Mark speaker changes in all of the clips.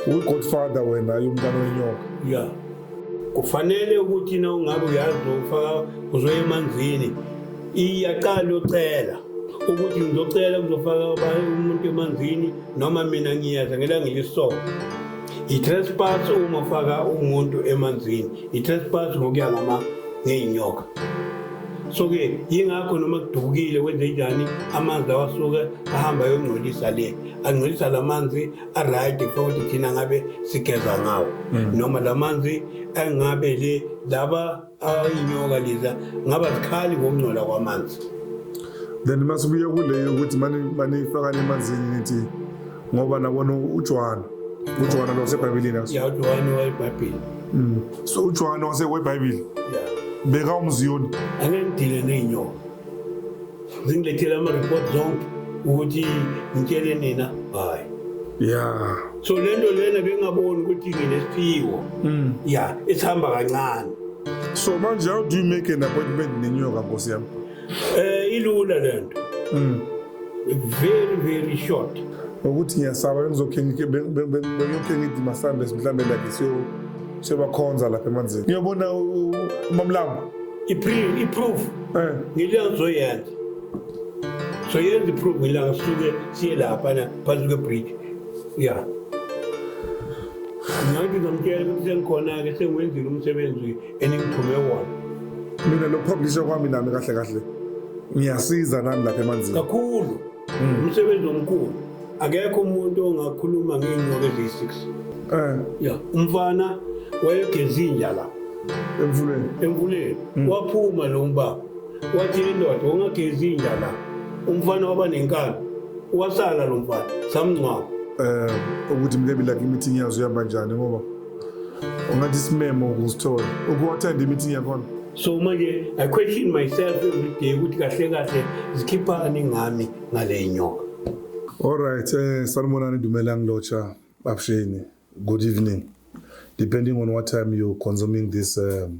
Speaker 1: uyigodfather wena yomntana wenyoka ya
Speaker 2: kufanele ukuthi na ungabe uyazi ufaka uzoya emanzini iyaqala ucela ukuthi ngizocela kuzofaka umuntu emanzini noma mina ngiyeza ngelanga elisoka i-trespass uma ufaka umuntu emanzini i-trespass ngokuya ngama ngey'nyoka so-ke yingakho noma kudukile wenze njani amanzi lawa asuke ahamba ayongcolisa le angcolisa la manzi aright futhi thina ngabe sigeza ngawo mm. noma la manzi engabe le laba ayinyoka leza ngaba zikhali ngokungcola kwamanzi then
Speaker 1: masibuye kuleyo ukuthi manifakane emanzini nithi ngoba nabona uJohane uJohane lo sebhayibhelini yaso ya uJohane
Speaker 2: wayebhayibheli mm. so
Speaker 1: uJohane wase webhayibheli beka
Speaker 2: umziyoni
Speaker 1: angengidile
Speaker 2: neyinyoka zingilethele ama-report zonke ukuthi ngitshele nina hayi ya
Speaker 1: so le nto
Speaker 2: lena bengingaboni ukuthi nginesiphiwo mm. ya esihamba kancane so manje
Speaker 1: how do you make an appointment nenyoka nkosi yami Eh ilula
Speaker 2: lento. Mm. Very very short. Ukuthi ngiyasaba
Speaker 1: bengizokhe bengiyokhe ngithi masambe mhlambe la ngisiyo sebakhonza lapha emanzini. Ngiyobona umamlanga. Iproof
Speaker 2: iproof. Eh. Ngiliyanzoyenza. So yenza iproof ngilanga suke siye lapha na phansi kwe bridge. Yeah. Ngathi ngamtshela ukuthi sengikhona-ke sengiwenzile umsebenzi eningiphume wona mina
Speaker 1: lokuphoblisha kwami nami kahle kahle ngiyasiza nami lapha emanzini kakhulu hmm.
Speaker 2: umsebenzi omkhulu akekho umuntu ongakhuluma ngey'nyoka eziyi-six um ya umfana wayegeza inja la emfuleni emfuleni hmm. waphuma lo mbaba wathi indoda ungagezi inja la umfana waba nenkani wasala lo mfana samngcwaba um
Speaker 1: ukuthi mlebi lakhe imithi inyazi uhamba njani ngoba ungathi isimemo ukusithola ukuwathanda imithi yakhona so manje
Speaker 2: i question myself every day ukuthi kahle kahle zikhiphani ngami ngale nyoka alright
Speaker 1: eh sanibonani dumela ngilotsha babsheni good evening depending on what time you're consuming this um,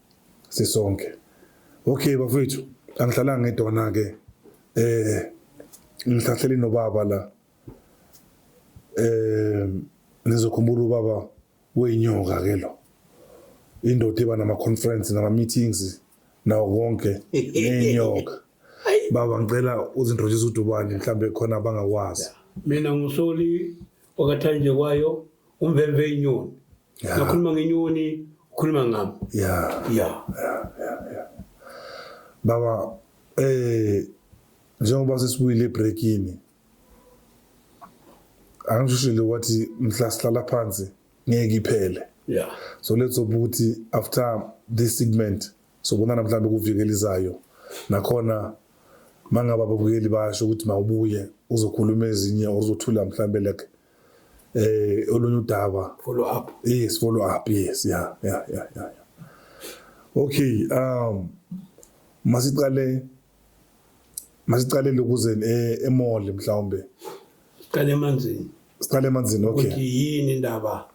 Speaker 1: sisonke okay bafethu angihlalanga ngedwana ke eh ngihlahleli nobaba la eh nizokhumbula ubaba weyinyoka ke lo indoda iba nama conference nama meetings nawo konke nenyoka baba ngicela uzintroduce udubane mhlambe khona abangakwazi mina ngusoli
Speaker 2: wakathanjekwayo umvemve inyoni Yeah. Nakhuluma ngenyoni,
Speaker 1: ukhuluma ngami. Yeah. Yeah. Yeah, yeah, yeah. Baba eh njengoba sesibuyile ebreakini angishishile wathi mhla sihlala phansi ngeke iphele yeah so
Speaker 2: let's hope ukuthi
Speaker 1: after this segment sobonana mhlawumbe kuvikela izayo nakhona mangaba babukeli basho ukuthi mawubuye uzokhuluma ezinye or uzothula mhlawumbe like eh olunye udaba follow up yes
Speaker 2: follow up
Speaker 1: yes yeah yeah yeah yeah okay um masiqale masiqale lokuze eh, emall mhlawumbe siqale
Speaker 2: emanzini siqale emanzini okay ukuthi yini
Speaker 1: indaba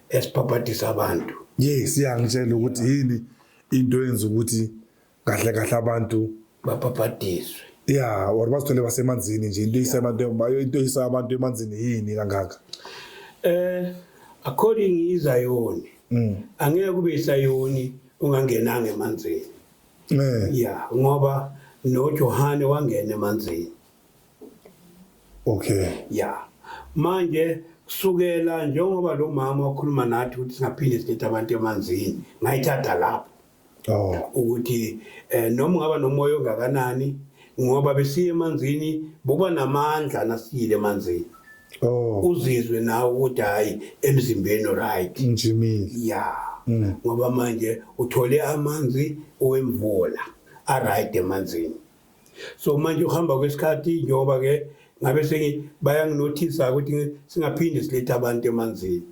Speaker 2: esibhabhadisa abantu yes yeah ngitshela
Speaker 1: ukuthi yini into yenza ukuthi kahle kahle abantu babhabhadiswe
Speaker 2: ya or
Speaker 1: bazithole basemanzini nje into isa abantu into isa abantu emanzini yini kangaka eh
Speaker 2: according izayoni mm. angeke kube isayoni ungangenanga emanzini eh ya ngoba noJohane wangena emanzini okay
Speaker 1: ya
Speaker 2: manje kusukela njengoba lo mama wakhuluma nathi ukuthi singaphinde sinethe abantu emanzini ngayithatha lapho Oh. ukuthi eh noma ungaba nomoya ongakanani ngoba besiye emanzini buba namandla nasiyile emanzini Oh. uzizwe nawe ukuthi hayi emzimbeni right Njimile. ya
Speaker 1: Mm.
Speaker 2: ngoba manje uthole amanzi owemvula aright emanzini so manje ukuhamba kwesikhathi njengoba-ke ngabe bayanginothisa ukuthi singaphinde silethe abantu emanzini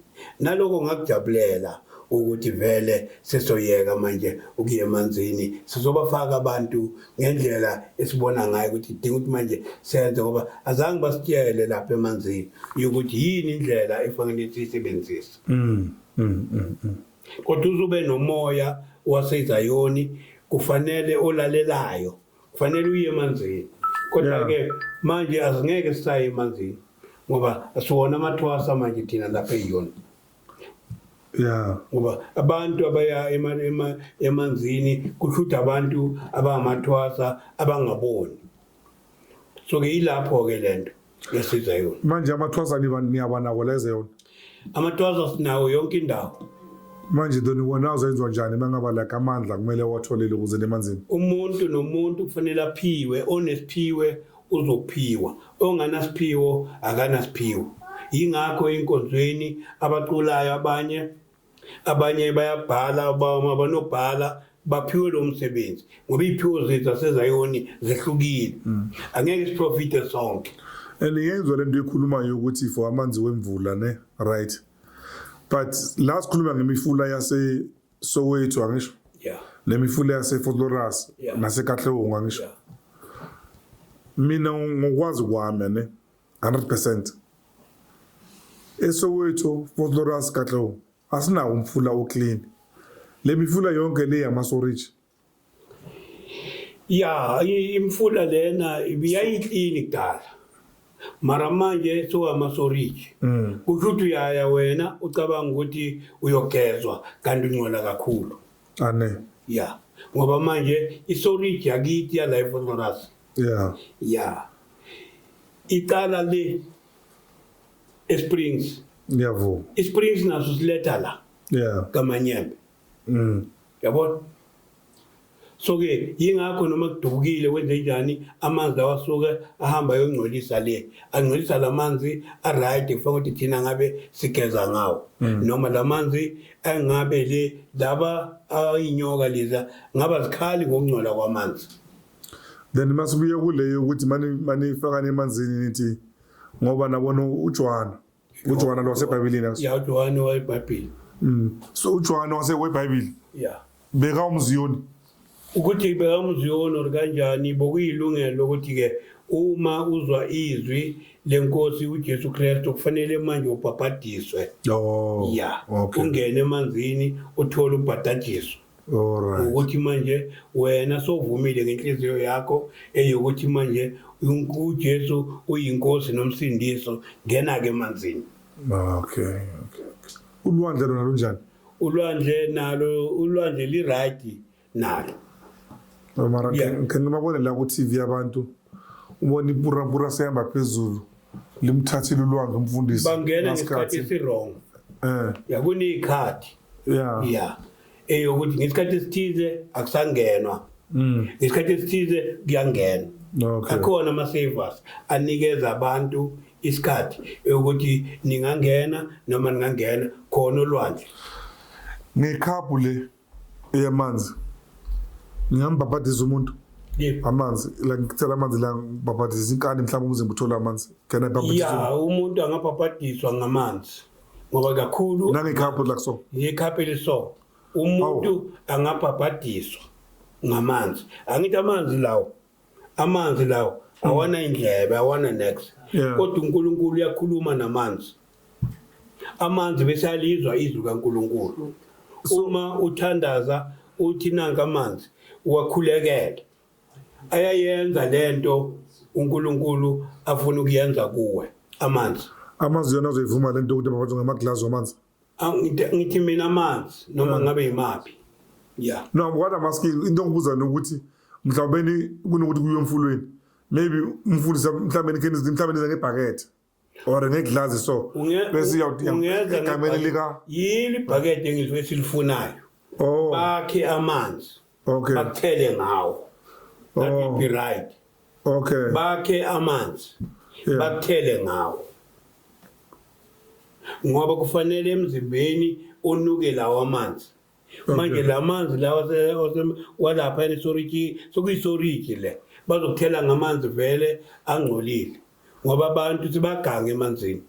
Speaker 2: naloko ngakujabulela ukuthi vele sesoyeka manje ukuya emanzini sizobafaka abantu ngendlela esibona ngayo ukuthi idinga ukuthi manje senze ngoba azange basitshele lapha emanzini ukuthi yini indlela efanele siyisebenzise mm, mm, mm, mm. Kodwa uzube nomoya waseZayoni kufanele olalelayo, kufanele uye emanzini. Kodwa-ke manje asingeke sisaye emanzini ngoba siwona amathwasa manje thina lapha eyona ya ngoba abantu abaya emanzini kusho ukuthi abantu abangamathwasa abangaboni so ke yilapho ke lento yasiza yona manje amathwasa
Speaker 1: niyabanako leze yona amathwasa
Speaker 2: sinawo yonke indawo manje doni
Speaker 1: wona azoyenziwa njani uma ngaba like amandla kumele watholele ukuze nemanzini umuntu nomuntu
Speaker 2: kufanele aphiwe onesiphiwe uzophiwa onganasiphiwo akanasiphiwo yingakho enkonzweni abaculayo abanye abanye bayabhala abanobhala baphiwe lo msebenzi ngoba iy'phiwo zethu zasezayoni zehlukile mm. angeke siprofite sonke and yenzwa le
Speaker 1: nto ekhulumayo yokuthi for amanzi wemvula ne right but la sikhuluma ngemifula yasesoweto angisho yeah. nemifula yase-fort loras yeah. nasekatlewongo angisho yeah. mina ngokwazi kwami ne 100 percent esoweto fort lawrence katlou asinawo umfula oclean le mifula yonke le yamasoriji ya
Speaker 2: i- imfula lena yayiklini kudala mara manje sowamasoriji Mm. kusho ukuthi uyaya wena ucabanga ukuthi uyogezwa kanti ungcola kakhulu ane ya ngoba manje isoriji yakithi yala efotoras yeah yeah icala le eSprings ngiyavuma iSprings naso siletha la yeah kamanyembe mm yabona so ke yingakho noma kudubukile kwenze njani amanzi lawa asuke ahamba ayongcolisa le angcolisa la manzi aright kufanele ukuthi thina ngabe sigeza ngawo mm. noma la manzi engabe le laba ayinyoka leza ngaba zikhali ngokungcola kwamanzi then
Speaker 1: masibuye kuleyo ukuthi manifakane emanzini nithi ngoba nabona uJohane uJohane lo wasebhayibhelini aso ya uJohane wayebhayibheli
Speaker 2: mm so
Speaker 1: uJohane wase webhayibheli ya beka umziyoni ukuthi
Speaker 2: beka umziyoni or kanjani bokuyilungelo ukuthi ke uma uzwa izwi lenkosi uJesu Kristu kufanele manje ubhabhadiswe oh ya ungene emanzini uthole ubhadajiso Alright. ukuthi manje wena sowuvumile ngenhliziyo yakho eyokuthi manje unku- uJesu uyinkosi nomsindiso ngena ke emanzini Ah, Okay.
Speaker 1: okay. Ulwandle lona lunjani? ulwandle nalo
Speaker 2: ulwandle li right nalo
Speaker 1: Mara Yeah. ngicela babone la ku TV abantu ubona ipura pura sehamba phezulu. limthathile ulwanga umfundisi bangena ngesikhathi
Speaker 2: esiwrong eh yakuni ikhadi yeah yeah eyokuthi ngesikhathi esithize akusangenwa mm. ngesikhathi esithize kuyangena okay. akhona ama-savers anikeza abantu isikhathi ukuthi ningangena noma ningangena khona olwandle
Speaker 1: ngekhabhu le eyamanzi ngingambhabhadiza umuntu yebo amanzi la ngicela amanzi la ngibhabhadiza inkani mhlawumbe umzimba uthola amanzi can i bhabhadiza ya umuntu
Speaker 2: angabhabhadiswa ngamanzi ngoba kakhulu nangekhapho la so
Speaker 1: ngekhaphe liso
Speaker 2: umuntu angabhabhadiswa ngamanzi angithi amanzi lawo amanzi lawo awana indlebe awana next Yeah. kodwa uNkulunkulu uyakhuluma namanzi amanzi bese alizwa izwi kaNkulunkulu uma uthandaza uthi nanka amanzi uwakhulekele ayayenza lento uNkulunkulu afuna ukuyenza kuwe amanzi amazwi yona azoyivuma
Speaker 1: lento ukuthi babathunga amaglazi wamanzi Ah, ngithe- ngithi
Speaker 2: mina amanzi noma ngabe yimaphi ya no
Speaker 1: ngokwada amaskill into engibuza nokuthi mhlawumbe ni- kunokuthi kuyiwe emfulweni maybe umfundisi mhlawumbe nikheni mhlawumbe nize ngebhakethe or ngeglazi so Unge-
Speaker 2: bese ungeza iyawuthi egameni ngebhakede. lika yini ibhakede engizwe
Speaker 1: esilifunayo
Speaker 2: oh
Speaker 1: bakhe
Speaker 2: amanzi okay bakuthele
Speaker 1: ngawo
Speaker 2: that oh. would be right okay bakhe
Speaker 1: amanzi
Speaker 2: yeah. bakuthele
Speaker 1: ngawo
Speaker 2: ngoba kufanele emzimbeni unuke lawo amanzi manje la manzi lawa walapha enesoriki sokuyisoriki le bazokuthela ngamanzi vele angcolile ngoba abantu sibagange emanzini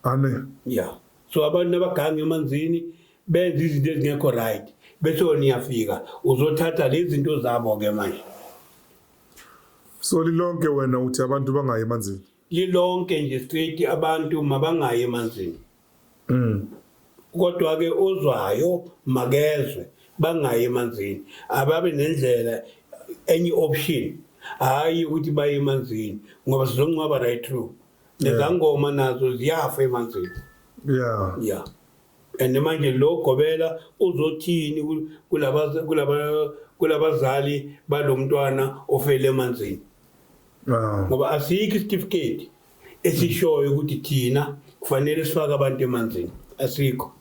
Speaker 2: amen
Speaker 1: yeah
Speaker 2: so abantu abagange emanzini benza izinto ezingekho right bese wena uyafika uzothatha lezi zinto zabo ke manje
Speaker 1: so lilonke wena uthi abantu bangayi emanzini lilonke nje
Speaker 2: straight abantu mabangayi emanzini mm kodwa ke ozwayo makezwe bangayi emanzini ababe nendlela enye option hayi ukuthi baye emanzini ngoba sizongcwaba right through nezangoma nazo ziyafa emanzini yeah yeah and manje lo gobela uzothini kulaba kulaba kulabazali balomntwana ofele emanzini ngoba asikho isitifiketi esishoyo ukuthi thina kufanele sifake abantu emanzini asikho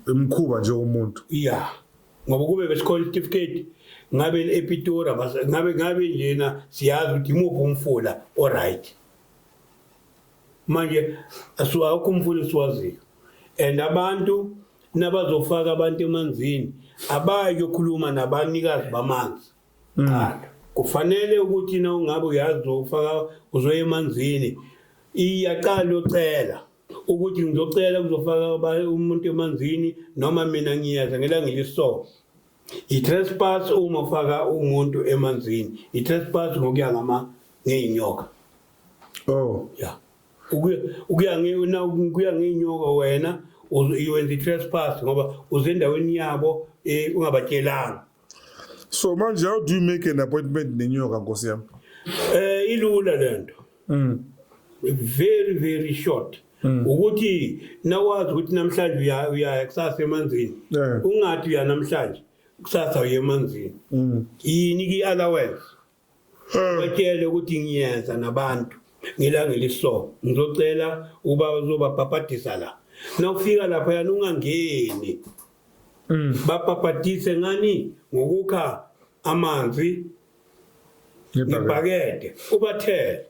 Speaker 1: imkhuba nje umuntu yeah
Speaker 2: ngoba kube besikhona isitifiketi ngabe epitora ngabe ngabe njena siyazi ukuthi imuphi umfula oright manje asiwakho umfula esiwaziyo and abantu nabazofaka abantu emanzini abayi kuyokhuluma nabanikazi bamanzi mm. qala kufanele ukuthi na ungabe uyazi ufaka uzoya emanzini iyaqala ucela ukuthi ngizocela kuzofaka abanye umuntu emanzini noma mina ngiyeza ngelangile so i-trespass uma ufaka umuntu emanzini i-trespass ngokuya ngama ngey'nyoka
Speaker 1: oh ya
Speaker 2: ukuya kuya ngey'nyoka wena iwenza i-trespass ngoba uzendaweni yabo um ungabatshelanga
Speaker 1: so manje how do you make an appointment nenyoka nkosi yami eh ilula
Speaker 2: lento mm. very very short mm. ukuthi nawazi ukuthi namhlanje uyaya kusasa emanzini yeah. ungathi uya namhlanje kusasa uye emanzini mm. yini ki-allowance batshele ukuthi ngiyeza nabantu ngelanga eliso ngizocela uba uzobabhabhadisa la nawufika lapha yana ungangeni mm. babhabhadise ngani ngokukha amanzi ngebhakede ubathele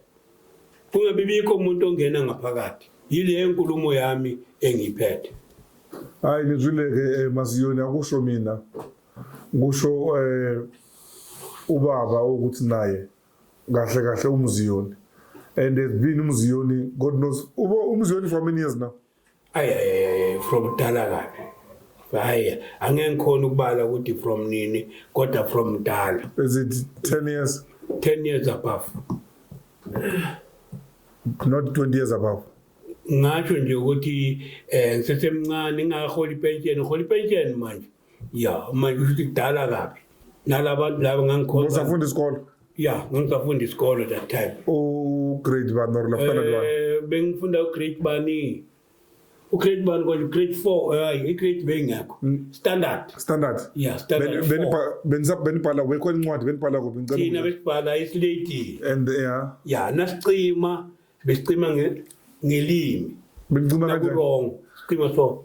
Speaker 2: kungabi bikho umuntu ongena ngaphakathi yile nkulumo yami engiphethe hayi
Speaker 1: nizwile-ke eh, masiyoni akusho mina kusho eh ubaba ukuthi naye kahle kahle umziyoni and has been umziyoni god knows uba umziyoni for many years now ay ay
Speaker 2: from dala kabi hayi angeke ngikhona ukubala ukuthi from nini kodwa from dala is it 10
Speaker 1: years 10 years above not 20 years above ngasho
Speaker 2: nje ukuthi eh ngisesemncane ngingaholi pension ngiholi pension manje ya manje kusho ukuthi kudala kabi nalabantu laba ngangikhona usafunda isikole
Speaker 1: ya ngangisafunda
Speaker 2: isikole that time ugrade
Speaker 1: bani or lafana bani eh, bengifunda ugrade
Speaker 2: bani ugrade bani konje grade 4 hayi igrade bengakho hmm. standard standard ya standard benibhala
Speaker 1: wekho incwadi benibhala kuphi ngicela thina besibhala isilady
Speaker 2: and ya
Speaker 1: ya
Speaker 2: nasicima besicima ngelimi bencima kanjani
Speaker 1: wrong sicima so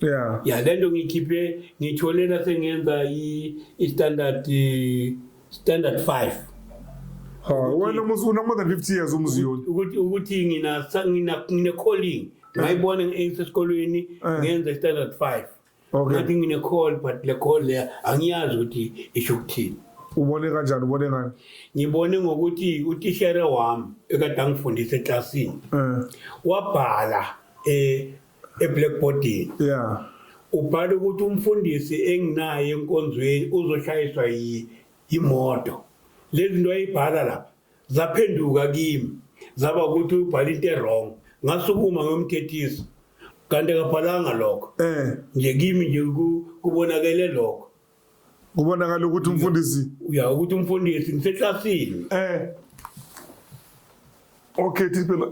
Speaker 2: yeah ya lento ngikhiphe ngithole la sengenza i standard standard 5 ha
Speaker 1: wena musu una more than 50 years umziyoni ukuthi ukuthi ngina
Speaker 2: ngina ngine calling ngayibona ngisesikolweni eh. ngenza standard 5 okay ngathi ngine call but le call le angiyazi ukuthi isho ukuthini ubone kanjani
Speaker 1: ubone ngani ngibone ngokuthi
Speaker 2: utishere wami ekade angifundisa eklasini eh. wabhala eh eblackboardini yeah
Speaker 1: ubhala ukuthi
Speaker 2: umfundisi enginaye enkonzweni uzoshayiswa yimoto lezi zinto ayibhala lapha zaphenduka kimi zaba ukuthi ubhala into erong ngasukuma ngomthethisa kanti akabhalanga lokho eh nje kimi nje kubonakele lokho kubonakala
Speaker 1: ukuthi umfundisi ya ukuthi
Speaker 2: umfundisi ngiseklasini eh
Speaker 1: okay this phela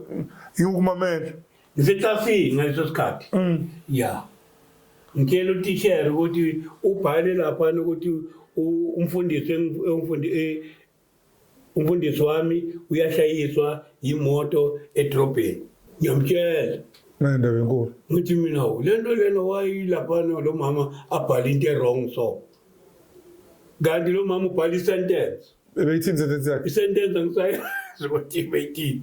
Speaker 1: ngikumamela ngiseklasini
Speaker 2: ngaleso sikhathi mm. ya ngitshela utishera ukuthi ubhale lapha ukuthi umfundisi e, Umfundisi wami uyashayiswa yimoto edrobheni. Ngiyamtshela. Nendaba
Speaker 1: enkulu. Ngithi mina le
Speaker 2: nto lena wayilaphana lo mama abhale into e-wrong so. Kanti lo mama ubhala i-sentence. Ebeyithini i-sentence
Speaker 1: yakhe? I-sentence angisayazi
Speaker 2: ukuthi ibeyithini.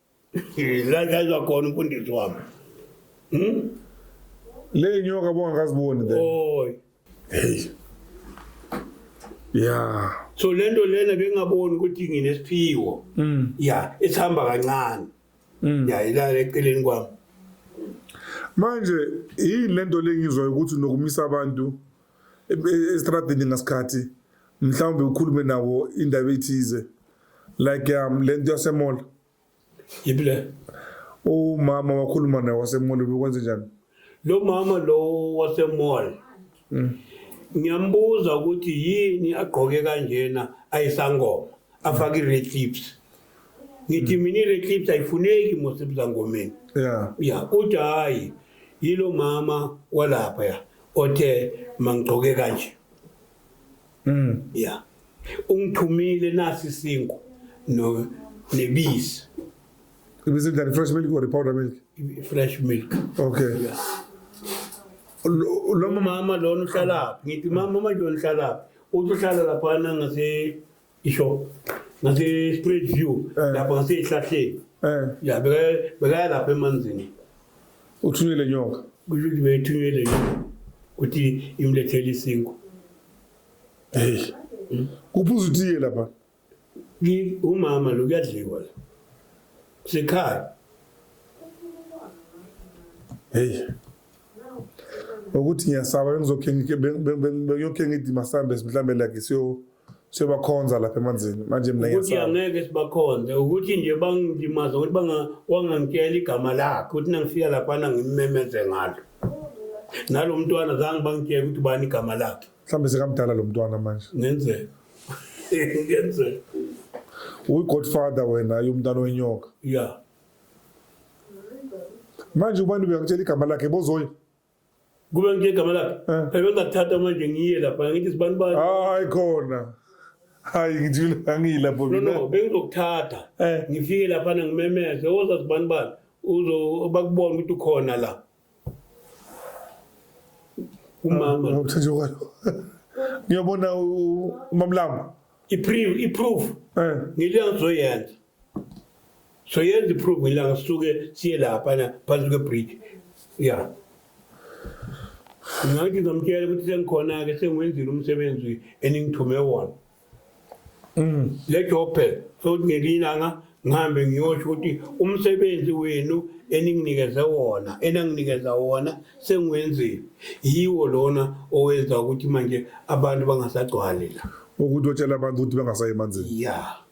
Speaker 2: la la izwa khona umfundisi wami hmm?
Speaker 1: le nyoka bongakaziboni then oy hey ya so lento lena
Speaker 2: bengaboni ukuthi nginesiphiwo mm. ya esihamba kancane mm. ya ilala eceleni kwami
Speaker 1: manje yini lento lengizwayo ukuthi nokumisa abantu e-, e-, estradini ngasikhathi mhlawumbe ukhulume nawo indaba ethize like um le nto yasemola yiphi le umama wakhuluma naye wasemola bekwenze njani lo mama
Speaker 2: lo wasemola mm. ngiyambuza ukuthi yini agqoke kanjena ayisangoma afake i-red clips ngithi mm. mina i-red clips ayifuneki mosebuzangomeni ya ya
Speaker 1: uthi hhayi
Speaker 2: yilo mama walapha ya othe mangigqoke kanje Mm. Yeah. Ungithumile nasi sinku no nebisi.
Speaker 1: Ibisi the fresh milk or the powder milk? Fresh milk. Okay.
Speaker 2: Yeah. Lo mama lona uhlala phi? Ngithi mama mama lona uhlala phi? Uthi uhlala lapha ngase isho. Ngase spread view eh. lapha ngase ihlahleni. Eh. Yeah, beka beka lapha emanzini. Uthunywe
Speaker 1: le nyoka. Kusho ukuthi beyithunywe
Speaker 2: le nyoka ukuthi imlethele isinkwa.
Speaker 1: Hey. Kuphuza utiye lapha. Ngi
Speaker 2: umama lo kuyadliwa la. Sikhaya.
Speaker 1: Hey. Ukuthi ngiyasaba bengizokhe ngike bengiyokhe ngithi masambe mhlambe like siyo siyobakhonza lapha emanzini manje mina ukuthi ngiyasaba angeke sibakhonze
Speaker 2: ukuthi nje bangilimaza ukuthi banga- wangangitshela igama lakhe ukuthi nangifika laphana ngimmemeze ngalo nalo mntwana zange bangitshela ukuthi ubani igama lakhe mhlawumbe sekamdala lo
Speaker 1: mntwana manje ngenzeka
Speaker 2: ngenzeka
Speaker 1: uyi-godfather wena yomntana wenyoka ya manje ubani bekakutshela igama lakhe bozoyi Kube
Speaker 2: nje igama lakhe. Eh. Phela ngakuthatha manje ngiye lapha ngithi sibani bani. Hayi khona.
Speaker 1: Hayi ngithule angilapho mina. No no bengizokuthatha.
Speaker 2: Eh. Ngifike lapha ngimemeze oza sibani bani uzo bakubona ukuthi ukhona la. Umama. Ah, Uthathe kwalo.
Speaker 1: Ngiyobona umamlama. I proof i
Speaker 2: proof. Eh. Ngiliyangizoyenza. So yenza iphruvu ilanga sisuke siye laphana phansi kwebridge ya ngathi ngizamtshela ukuthi sengikhona-ke sengiwenzile umsebenzi eningithume wona mm. le job phela sokuthi ngelinye ilanga ngihambe ngiyosho ukuthi umsebenzi wenu eninginikeze wona enanginikeza wona sengiwenzile yiwo lona owenza ukuthi manje abantu bangasagcwali la ukuthi otshela abantu
Speaker 1: ukuthi bangasayi emanzini ya yeah.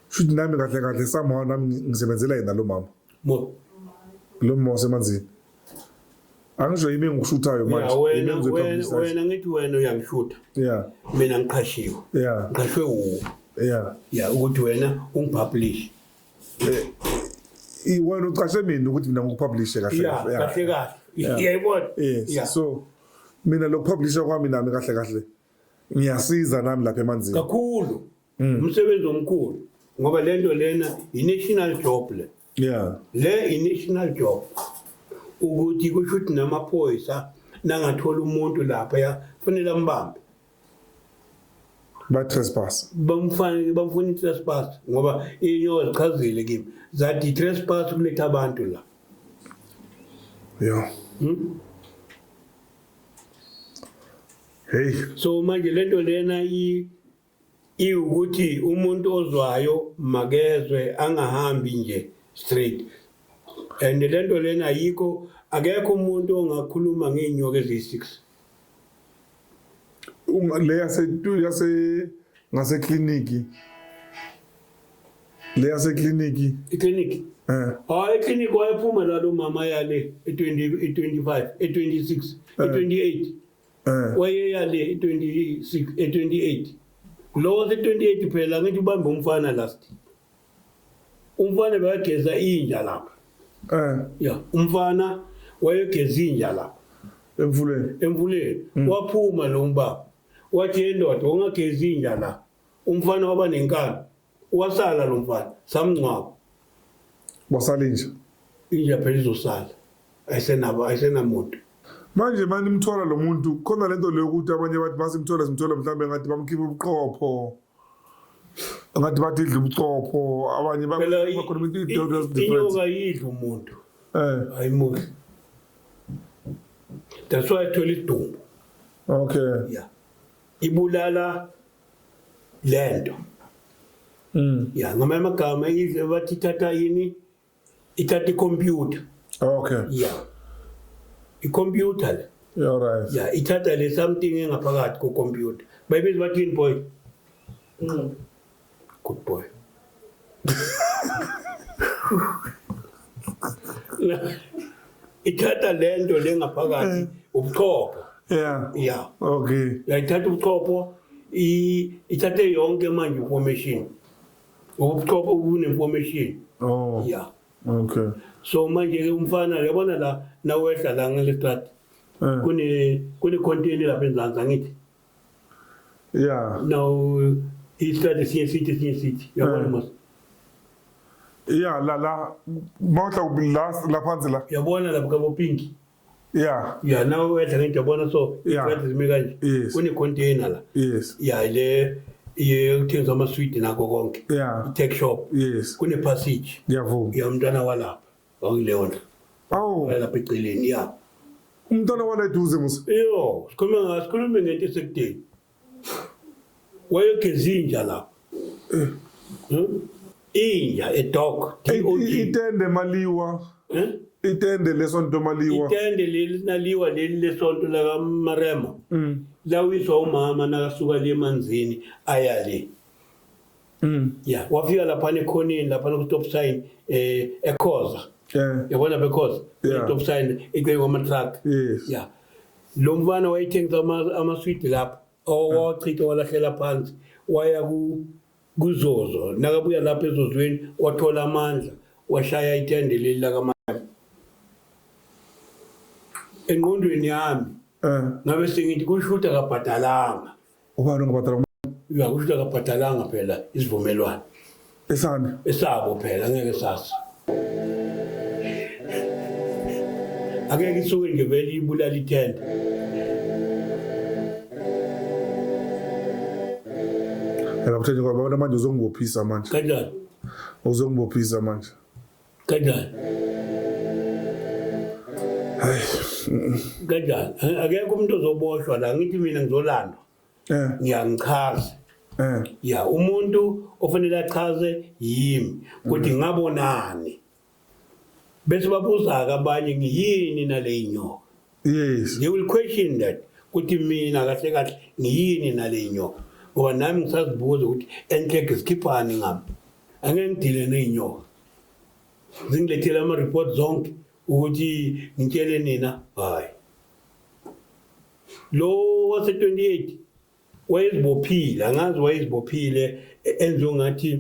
Speaker 1: shuthi nami kahle kahle somehow nami ngisebenzela yena lo mama mo lo mama wasemanzini angisho yimi engikushuthayo manje wena wena
Speaker 2: ngithi wena uyangishutha yeah mina ngiqhashiwe yeah ngiqhashwe wuwo yeah yeah ukuthi wena ungipublish
Speaker 1: eh, iwena uqashe mina ukuthi mina ngikupublishe kahle kahle kahle
Speaker 2: kahle iyayibona yeah
Speaker 1: so mina lokupublisha kwami nami kahle kahle ngiyasiza nami lapha emanzini kakhulu mm.
Speaker 2: umsebenzi omkhulu ngoba lento lena i-national job le yeah le i-national job ukuthi kusho ukuthi namaphoyisa nangathola umuntu lapha ya kufanele ambambe
Speaker 1: ba-trespass bamfanele bamfuna
Speaker 2: i-trespass ngoba inyoka zichazile kimi zathi i-trespass kuletha abantu la ya yeah. hmm?
Speaker 1: hey so manje lento
Speaker 2: lena i iwukuthi umuntu ozwayo makezwe angahambi nje straight and lento lena yikho akekho umuntu ongakhuluma ngeenyoka eziyi-6
Speaker 1: uma le yase yase ngase clinic le yase clinic i clinic eh
Speaker 2: oh i clinic wayephuma la lo mama yale e20 e25 e26 e28 Eh. wayeya le 26 e28 lo wase 28 phela ngithi ubambe umfana last umfana bekageza inja lapha eh ya umfana wayegeza inja lapha emfuleni emfuleni mm. waphuma lo mbaba wathi yendoda ungageza inja la umfana waba nenkani Wasala lo mfana samngcwaba.
Speaker 1: Wasala inja.
Speaker 2: Inja phela izosala. Ayisenabo ayisenamuntu. Manje
Speaker 1: manje imthola lo muntu khona lento leyo ukuthi abanye bathi basimthola simthola mhlawumbe ngathi bamkhipha ubuqopho. Ngathi bathi idla ubuqopho abanye bakhona into idodo different. Inyoka
Speaker 2: yidla umuntu. Eh. Ayimuhle. That's why I told it to. Okay. Yeah. Ibulala lento mm. ya ngamanye amagama bathi ithatha yini ithatha ikhompyutha okay ya ikhompyutha le You're right. ya ithatha
Speaker 1: le
Speaker 2: something engaphakathi kokhompyutha bayibiza bathini boy good boy ithatha le nto le ngaphakathi eh. ubuchopho ya ya okay
Speaker 1: yayithatha ubuchopho
Speaker 2: ithathe yonke manje information ubuchopho bune-information oh ya okay
Speaker 1: so manje-ke
Speaker 2: umfana yabona la nawehla la ngelestrati eh. kune-containi lapha enzansi angithi
Speaker 1: Yeah. Now uh,
Speaker 2: he started seeing city, seeing
Speaker 1: city. Yeah, one month. Yeah, la la mawutla ubi la la phansi la. Yabona lapha kabo pink.
Speaker 2: Yeah. Yeah,
Speaker 1: now wetha ngento
Speaker 2: yabona so Yeah. ikwetha zime kanje. Yes. Kune container la. Yes. Yeah, le iye kuthengiswa ama sweet nako konke. Yeah. Tech shop. Yes. Kune passage. Ngiyavuma. Ya mntwana walapha. Wangilewona. Awu. Lapha eceleni ya. Umntwana
Speaker 1: wala eduze musa. Yo, sikhuluma ngathi
Speaker 2: khuluma ngento esekudeni. Wayegeza inja lapha. Eh. Hmm? Inja a dog. Itende
Speaker 1: maliwa. Eh? Itende lesonto maliwa. Itende leli naliwa
Speaker 2: leli lesonto la kaMarema. Mm. Lawiswa umama nakasuka le manzini ayale. mm. ya wafika laphana ekhoneni laphana ku-top sign eh ekhoza yeah. yabona bekhoza yeah. top sign icele kwamatruck yes. ya lo mfana wayethengisa amaswidi lapho owachitha walahlela phansi waya kuzozo nakabuya lapho ezozweni wathola amandla washaya itende leli lakamandla engqondweni yami eh. ngabe sengithi kusho ukuthi akabhadalanga Ubani ongabhadala
Speaker 1: ubani? Uyakusho ukuthi
Speaker 2: akabhadalanga phela isivumelwano. Esani? Esabo phela ngeke sasa. Angeke isuke nje vele ibulala ithenda.
Speaker 1: Yabuthenje ngoba abantu manje uzongibophisa manje. Kanjani?
Speaker 2: Uzongibophisa
Speaker 1: manje.
Speaker 2: Kanjani? Kanjani? Akekho umuntu ozoboshwa la ngithi mina ngizolandwa. Eh. Ngiyangichaza. Eh. Ya umuntu ofanele achaze yimi ukuthi mm. ngabonani. Bese babuza ke abanye ngiyini nale inyoka. Yes. They will question that ukuthi mina kahle kahle ngiyini nale inyoka. Ngoba nami ngisazibuza ukuthi enhleke sikhiphani ngami. Angeke ngidile nezinyoka. zingilethele ama-report zonke ukuthi ngitshele nina hayi lo wase-28 wayezibophile angazi wayezibophile e-, enze ngathi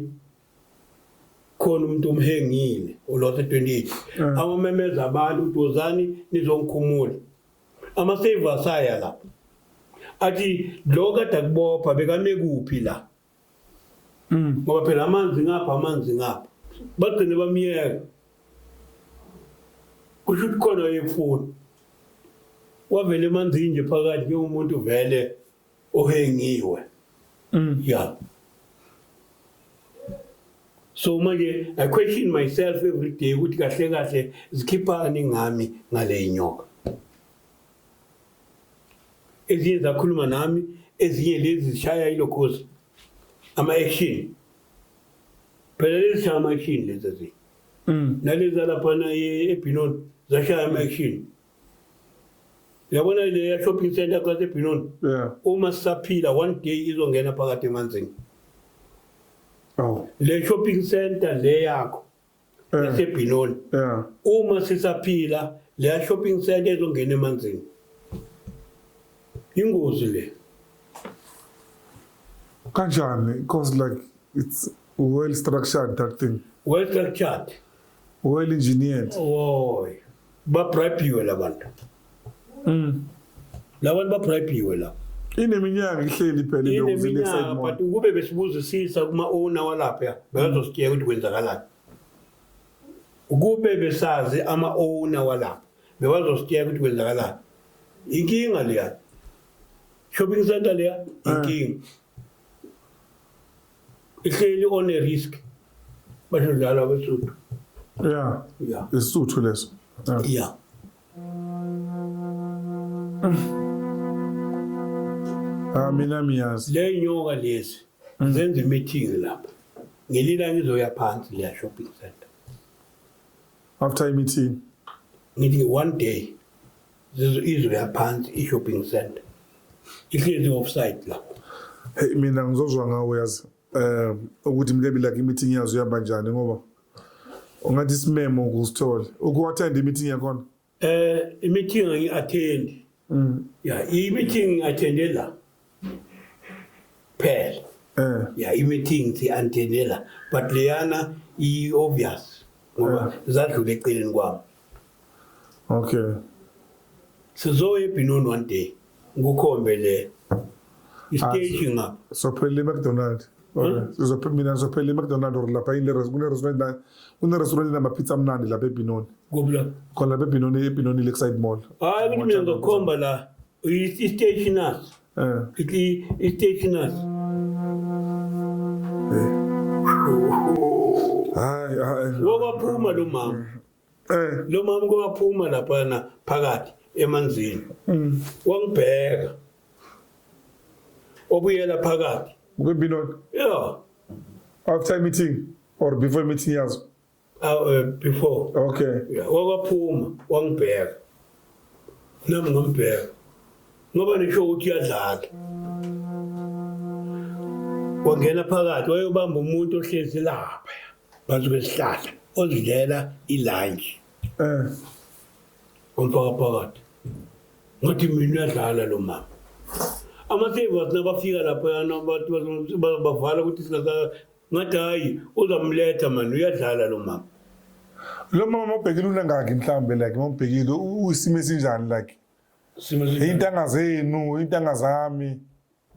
Speaker 2: khona umuntu omhengile olothe 28 mm. amamemeza abantu ukuthi wozani nizongikhumula ama-savers aya lapho athi lo kade akubopha bekame kuphi la Mm. ngoba phela amanzi ngapha amanzi ngapha bagcine bamyeka kusho ukuthi khona yefuni wavele emanzini nje phakathi njengomuntu vele ohengiwe mm. ya so manje i question myself every day ukuthi kahle kahle zikhiphani ngami ngale inyoka ezinye zakhuluma nami ezinye lezi zishaya ilokhozi ama-action phela lezi shaya ama-action lezi ezinye mm. nalezi alaphana ebhinon zashaya ama-action yabona leya shopping center kwasebhinon uma sisaphila one day izongena phakathi emanzini oh. le shopping center le yakho esebhinoni yeah uma sisaphila leya shopping center ezongena emanzini ingozi le
Speaker 1: kanjani because like it's well structured that thing well structured
Speaker 2: well
Speaker 1: engineered oy
Speaker 2: babribiwe labantu mm labantu babribiwe la ineminyaka
Speaker 1: ihleli phela indozi lexide but
Speaker 2: ukube besibuzisisa kuma owner walapha bazositshela ukuthi kwenzakalani ukube besazi ama owner walapha bebazositshela ukuthi kwenzakalani inkinga leya shopping center leya eh. inkinga ihleli on a risk bashadlala abesuthu ya ya isuthu
Speaker 1: leso ya ah mina miyazi le nyoka lezi
Speaker 2: mm. zenza imeeting lapha ngelila ngizoya phansi le shopping center
Speaker 1: after i meeting ngithi
Speaker 2: one day zizwe izwe yaphansi i-shopping center ihlezi offside la hey mina
Speaker 1: ngizozwa ngawo yazi eh ukuthi mlebi like i-meeting yazo ihamba njani ngoba ungathi isimemo kusithole ukuwathenda i-meeting yakhona eh i-meeting
Speaker 2: angi-attend mm. ya i-meeting ngi-attende la phela eh yeah imeeting thi antenela but leyana i obvious ngoba zadlula eceleni kwami okay sizoya ebhinoni one day ngukhombe le istage ah, ngapha sophela
Speaker 1: i-mcdonald hmm? mina ngizophela i-mcdonald or lapha yini kunerestaurant namapizza amnandi lapha ebhinoni khona lapha ebhinoni ebhinoni lakeside mall hayi ukuthi mina ngizokhomba
Speaker 2: la Is- Isteşin az. He. İki isteşin az. Hayi, hayi. Kowaphuma lo mama. Eh. Lo mama kowaphuma laphana phakathi emanzini. Mm. Wangibheka. Obuyela phakathi. Kube bilona.
Speaker 1: Yeah. After meeting or before meeting yazo. aw eh,
Speaker 2: before okay Yeah, wakaphuma wangibheka nami ngambheka ngoba nisho ukuthi uyadlala wangena phakathi wayobamba umuntu ohlezi lapha phansi kwesihlahla ozidlela ilunch eh wamfaka phakathi ngathi mina uyadlala lo mama ama-savers nabafika lapho yana abantu bazobavala ukuthi singasa Ngathi hayi uzamletha mani uyadlala lo mama. Lo mama
Speaker 1: mawubhekile unangaki mhlambe like mawubhekile uyisimo esinjani like? Simo esinjani? Intanga zenu, intanga zami.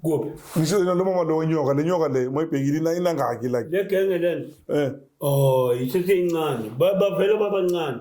Speaker 1: Kuphi?
Speaker 2: Ngisho lo mama
Speaker 1: lo nyoka, le nyoka le mayibhekile ina inangaki like. Le genge lena.
Speaker 2: Eh. Oh, isithi incane. Ba- Bavele babancane.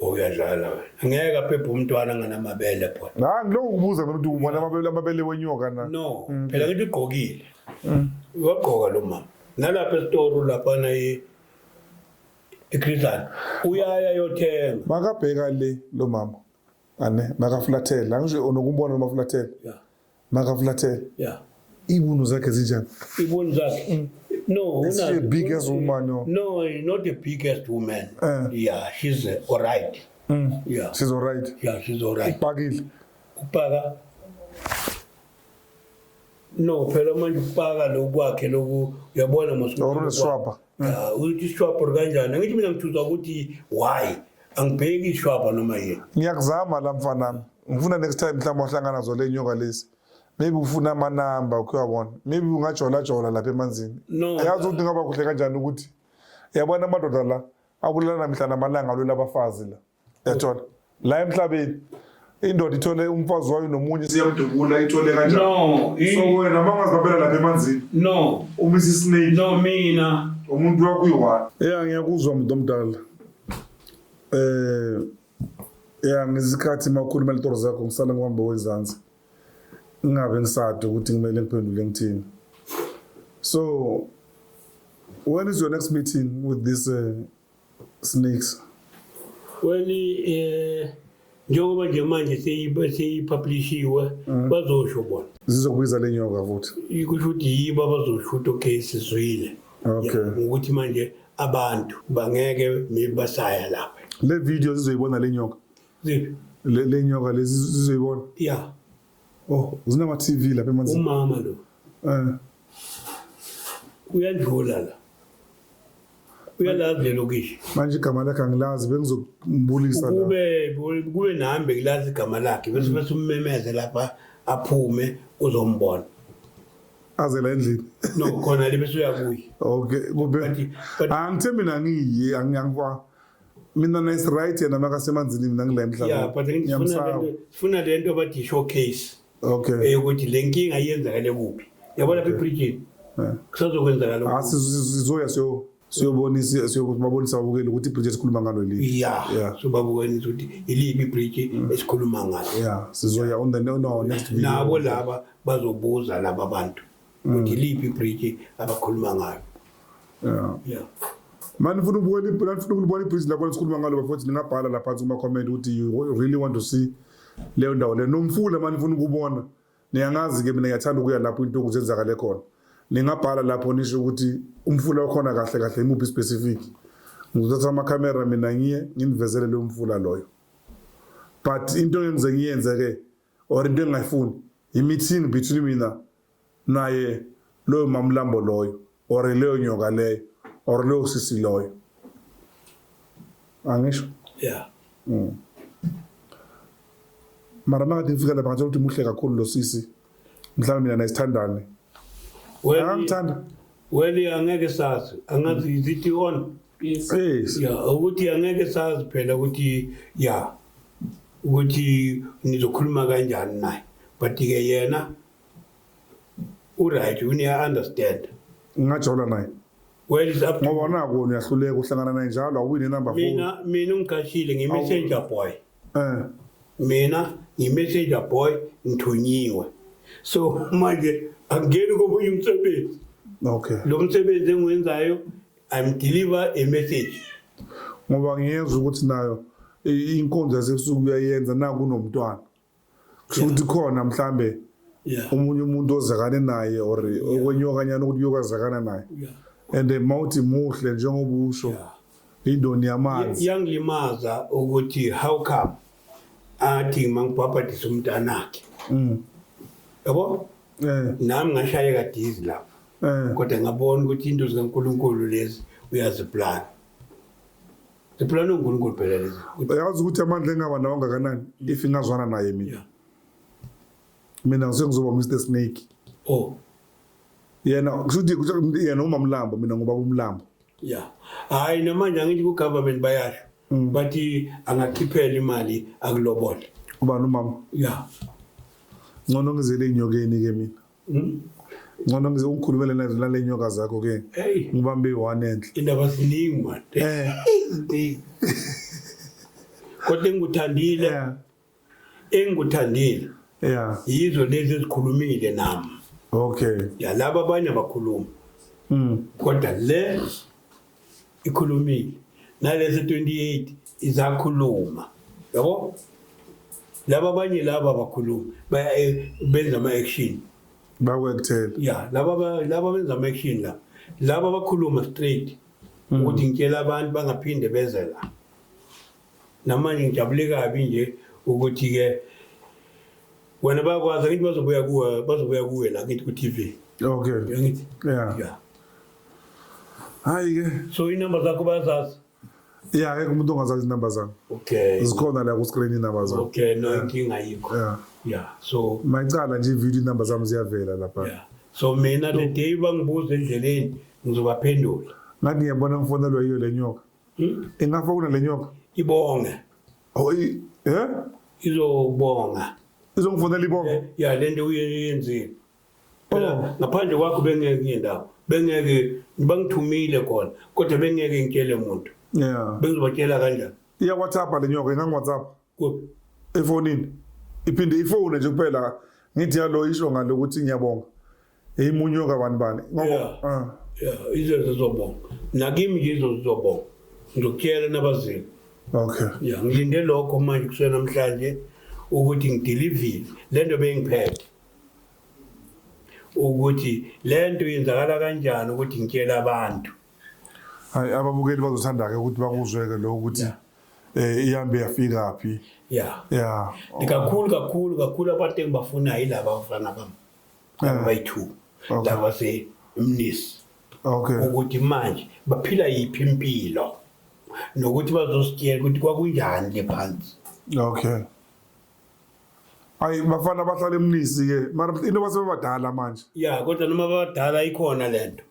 Speaker 1: Oh,
Speaker 2: uyadlala wena. Ngeke aphephe umntwana nganamabele phona. Nah, ngilokhu kubuza mina ukuthi
Speaker 1: ubona amabele amabele wenyoka na. No, phela ngithi
Speaker 2: ugqokile. Uyagqoka lo mama. Nalapha esitoro lapha na i iKritan. Uyaya yothenga. Makabheka le
Speaker 1: lo mama. Ane makafulathela. Angisho unokubona noma fulathela. Yeah. Maka Flatel. Yeah. Ibunu zakhe zinjani? Ibunu zakhe. Mm.
Speaker 2: No, is she a big ass
Speaker 1: woman? No, no, not
Speaker 2: a big ass woman. Uh. Yeah, she's uh, all right. Mm. Yeah. She's all
Speaker 1: right. Yeah, she's all right. Upakile.
Speaker 2: Upaka. No, phela manje upaka lokwakhe loku uyabona mos. Or swapa.
Speaker 1: Yeah, uthi
Speaker 2: swapa kanjani? Ngithi mina ngithuza ukuthi why? angibheki ishwaba noma yini ngiyakuzama la
Speaker 1: mfanami ngifuna next time mhlawumbe wahlangana zole nyoka lesi maybe ufuna amanamba ukuyawabona maybe ungajolajola lapha emanzini yazi ukuthi ngaba kuhle kanjani ukuthi yabona amadoda la akulala mihla namalanga alwela abafazi la yathola la emhlabeni indoda ithole umfazi wayo nomunye siyamdubula ithole kanjani no so wena mangazibabela lapha emanzini no umisa isnake no mina
Speaker 2: umuntu wakho
Speaker 1: uyi-one ya ngiyakuzwa muntu omdala eh ya ngizikhathi makhuluma litoro zakho ngisale ngihamba wezansi ngingabe ngisade ukuthi kumele ngiphendule ngithini so when is your next meeting with this uh, Snakes.
Speaker 2: Well, eh njengoba nje manje seyi- seyipublishiwe bazosho bona Zizokubiza le nyoka
Speaker 1: futhi. ikusho ukuthi yibo
Speaker 2: abazosho ukuthi okay sizwile Okay. Ya, ngokuthi
Speaker 1: manje
Speaker 2: abantu bangeke maybe basaya lapha Le video zizoyibona
Speaker 1: le nyoka. Ziphi?
Speaker 2: Le le nyoka
Speaker 1: lezi zizoyibona. ya
Speaker 2: Oh,
Speaker 1: zinama TV lapha emanzi. Umama lo.
Speaker 2: Eh. Uyadlula la. Uyalazi lelo kishi. Manje igama lakhe
Speaker 1: angilazi bengizokubulisa la. Kube kube nami
Speaker 2: bekilazi igama lakhe bese bese ummemeze lapha aphume uzombona.
Speaker 1: aze la endlini nokukhona le bese
Speaker 2: uyakuyi okay kube
Speaker 1: angithe mina ngiyi angiyangwa mina nice right yena makasemanzini mina ngila emhlabeni yeah but ngifuna
Speaker 2: ngifuna lento bathi showcase okay eyokuthi
Speaker 1: le nkinga
Speaker 2: iyenzakale kuphi yabona lapha ebridgini kusazokwenzakala ah, lokho sizoya siyo
Speaker 1: siyobonisa siyobabonisa abukeli ukuthi ibridge esikhuluma ngalo yili yeah yeah sobabukwenisa
Speaker 2: ukuthi yiliphi ibridge mm. esikhuluma ngalo yeah sizoya on the
Speaker 1: no, no next video nabo laba
Speaker 2: bazobuza laba bantu ukuthi mm. liphi ibridge abakhuluma ngayo yeah yeah mani
Speaker 1: funa ukubona ibridge lani funa ukubona ibridge lakho sikhuluma ngalo bafowethu ningabhala la phansi kuma comment ukuthi you really want to see leyo ndawo le nomfula mani funa ukubona niyangazi ke mina ngiyathanda ukuya lapho into okuzenzakale khona ningabhala lapho nisho ukuthi umfula okhona kahle kahle imuphi specific ngizothatha ama camera mina ngiye nginivezele leyo mfula loyo but into engize ngiyenze ke or into engingayifuni yi-meeting between mina naye loyo mamlambo loyo or leyo nyoka leyo or leyo sisi loyo angisho yeah mm. mara makathi ngifika lapha ngathola ukuthi muhle kakhulu lo sisi mhlawumbe mina naye sithandane Akamthandi. Weli
Speaker 2: angeke sazi angazi is it on Yes. Yes. ya
Speaker 1: ukuthi
Speaker 2: angeke sazi phela ukuthi ya ukuthi ngizokhuluma kanjani naye but ke yena uright uneya understand Ngingajola naye.
Speaker 1: well is up to
Speaker 2: Ngoba naku uyahluleka
Speaker 1: uhlangana naye njalo awuwini number 4. mina mina ungiqashile ngi
Speaker 2: messenger boy Eh. mina ngi-messenger boy ngithunyiwe so manje angingeni komunye umsebenzi Okay. lo
Speaker 1: msebenzi
Speaker 2: engiwenzayo i'm deliver a message Ngoba
Speaker 1: ngiyezwa ukuthi nayo i- inkonzo yasebusuku uyayenza naku nomntwana. kusho ukuthi khona mhlambe omunye umuntu ozakane naye or okwenyokanyana ukuthi uyokwazakana naye and mawuthi muhle njengoba usho indoni yamanzi yangilimaza
Speaker 2: ukuthi how come athi mangibhabhadisa umntanakhe mm. yabo eh. nami ngashayeka dizi lapho eh. kodwa ngabona ukuthi into zikankulunkulu lezi uyaziplana Iphela noNkulunkulu phela lezi. Uyazi ukuthi amandla
Speaker 1: engaba nawo ngakanani if ingazwana naye mina. Mina ngizokuzoba Mr Snake. Oh. Yena kushuthi yena uma mlambo mina ngoba umlambo. Yeah.
Speaker 2: Hayi namanje angithi ku government bayasho. Mm. Bathi angakhiphela imali akulobole. Ubani umama?
Speaker 1: Yeah. Ngono ngizele inyokeni ke mina. Hmm? ngcono ngize ungikhulumele nazo nale nyoka zakho ke ngibambe i-one enhle indaba ziningi
Speaker 2: made eh. iziningi kodwa engikuthandile engikuthandile ya
Speaker 1: yizo lezi
Speaker 2: ezikhulumile nami okay
Speaker 1: ya laba abanye
Speaker 2: abakhuluma mm. kodwa le ikhulumile nalezi 28 izakhuluma yabo laba abanye laba abakhuluma eh, benza ama-action bakwekuthela
Speaker 1: ya
Speaker 2: laba benza ama-action la laba bakhuluma straight hmm. ukuthi ngitshela abantu bangaphinde beze la Namanje ngijabule kabi nje ukuthi ke wena bayakwazi ngithi bazobuya kuwe bazobuya kuwe la ngithi ku-TV. Okay. Ngithi.
Speaker 1: Yeah. Yeah. Hayi ke. So inamba zakho
Speaker 2: bayazazi. Yeah, akekho
Speaker 1: umuntu ongazazi inamba zami. Okay. Zikhona
Speaker 2: la ku screen
Speaker 1: inamba zami. Okay, no inkinga
Speaker 2: yikho. Yeah. Yeah. So mayicala nje video
Speaker 1: inamba zami ziyavela lapha. Yeah. So mina
Speaker 2: le day bangibuza endleleni ngizobaphendula. Ngathi ngiyabona
Speaker 1: mfonelwa yiyo lenyoka. Hmm? Ingafona le nyoka. Ibonge.
Speaker 2: Oyi,
Speaker 1: eh? Izobonga.
Speaker 2: Izongifonela ibonge.
Speaker 1: Eh, ya lento uyenzile.
Speaker 2: Phela oh. ngaphandle kwakho bengeke ngendawo. Bengeke bangithumile khona kodwa bengeke ngitshele umuntu. Yeah. Bengizobatshela
Speaker 1: kanjani?
Speaker 2: Iya WhatsApp le
Speaker 1: nyoka, ingangi WhatsApp. Kuphi? Efonini. Iphinde ifone nje kuphela ngithi yalo isho ngale ukuthi ngiyabonga. Eyimunywe kabani bani. Ngoba yeah. uh. yeah, izo
Speaker 2: zizobonga. Nakimi nje izo zizobonga. Ngizokutshela nabazini. Okay. Yeah,
Speaker 1: ngilinde lokho
Speaker 2: manje kusena namhlanje ukuthi ngideliver lento bengiphethe. ukuthi lento yenzakala kanjani ukuthi ngitshela abantu Hayi
Speaker 1: ababukeli bazothanda ke ukuthi bakuzwe ke lokho ukuthi yeah. eh ihambe yafika phi yeah yeah oh. kakhulu kakhulu
Speaker 2: kakhulu abantu engibafuna yilaba abafana bami yeah. bayithu okay. laba se mnisi okay ukuthi manje baphila yiphi impilo nokuthi bazositshela ukuthi kwakunjani le phansi okay
Speaker 1: Ayi bafana bahlala emnisi ke mara into basebadala manje. Yeah kodwa noma
Speaker 2: badala ikhona lento.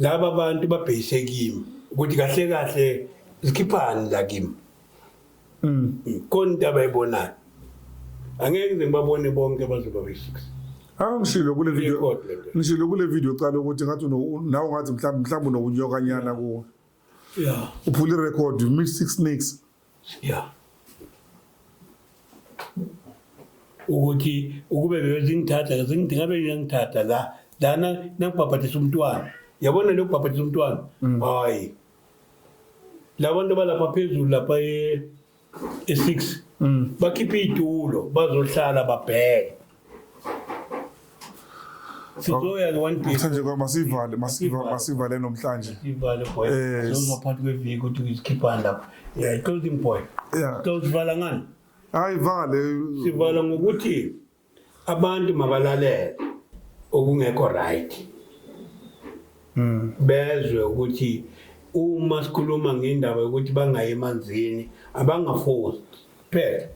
Speaker 2: Laba bantu babhekise kimi ukuthi kahle kahle zikhiphani la kimi. Mm. Khona into abayibonayo. Angeke ngize ngibabone bonke bazoba be-6. Angishilo kule video.
Speaker 1: Ngishilo kule video qala ukuthi ngathi nawe ngathi mhlawumbe mhlawumbe unokunyokanyana kuwe. Yeah. Uphula irecord, you missed six snakes. ya
Speaker 2: ukuthi ukube bebezingithatha ngingithingabe ngiyangithatha la lana nangibhabhadisa umntwana yabona leyo kubhabhadisa umntwana mm. hayi labantu abalapha phezulu lapha e-six mm. bakhiphe iy'tulo bazohlala babheke Sizoya-ke one day. Mthanje kwa masivale
Speaker 1: masivale masivale namhlanje. Sivale boy.
Speaker 2: Eh, Sizozwa phakathi kweviki ukuthi ngizikhiphani lapho. Yeah, closing boy. Yeah. Sizozivala ngani? Hayi vale.
Speaker 1: Sivala ngokuthi
Speaker 2: abantu mabalalele okungekho right. Mm. Bezwe ukuthi uma sikhuluma ngendaba yokuthi bangayi emanzini abangafosi. Phela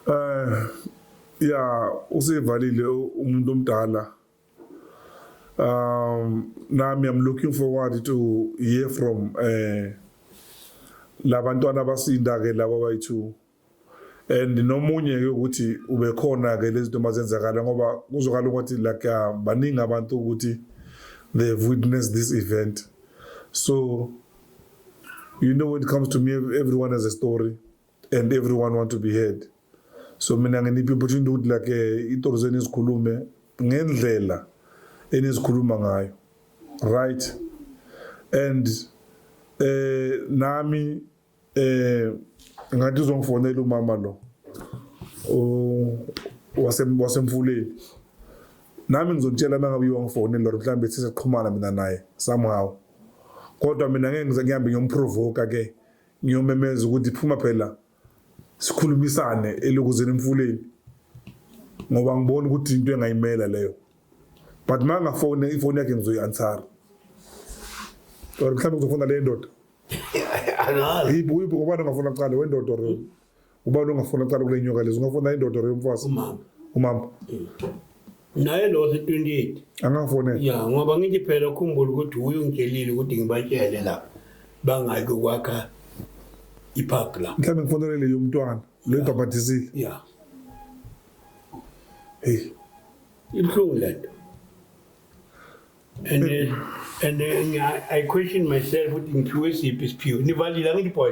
Speaker 2: Eh
Speaker 1: ya usevalile umuntu omdala. Um nami I'm looking forward to hear from eh labantwana abasinda ke laba bayithu and nomunye ke ukuthi ubekhona ke lezi zinto mazenzakala ngoba kuzokala ukuthi like uh, baningi abantu ukuthi they have witnessed this event so you know when it comes to me everyone has a story and everyone want to be heard so mina nginiphi opportunity ukuthi like eh, itori zenu izikhulume ngendlela enizikhuluma ngayo right and eh nami eh ngathi uzongifonela umama lo wasemfuleni nami ngizomtshela uma ngabe uyiwangifonela or mhlawumbe sisexhumana mina naye somehow kodwa mina ngeke ngize ngihambe ngiyomprovoka ke ngiyomemeza ukuthi phuma phela sikhulumisane elokuzeni emfuleni ngoba ngibona ukuthi into engayimela leyo but uma ngafone ifoni yakhe ngizoyi-ansara or mhlawumbe ngizofona le ndoda yiphi uyiphi ngobani ongafona kuqale wendoda or ubani ongafuna cala kule nyoka lezi ungafuna indoda or yomfazi umama umama
Speaker 2: naye lo se-28 angafonela ya
Speaker 1: ngoba ngithi phela
Speaker 2: ukhumbula ukuthi wuye ungitshelile ukuthi ngibatshele la bangaki ukwakha ipark la mhlawumbe ngifonelele yomntwana
Speaker 1: lo ibhabhadisile ya heyi ibuhlungu
Speaker 2: le nto and uh, and uh, I question myself ukuthi ngiphiwe siphi isiphiwo nivalile angithi boy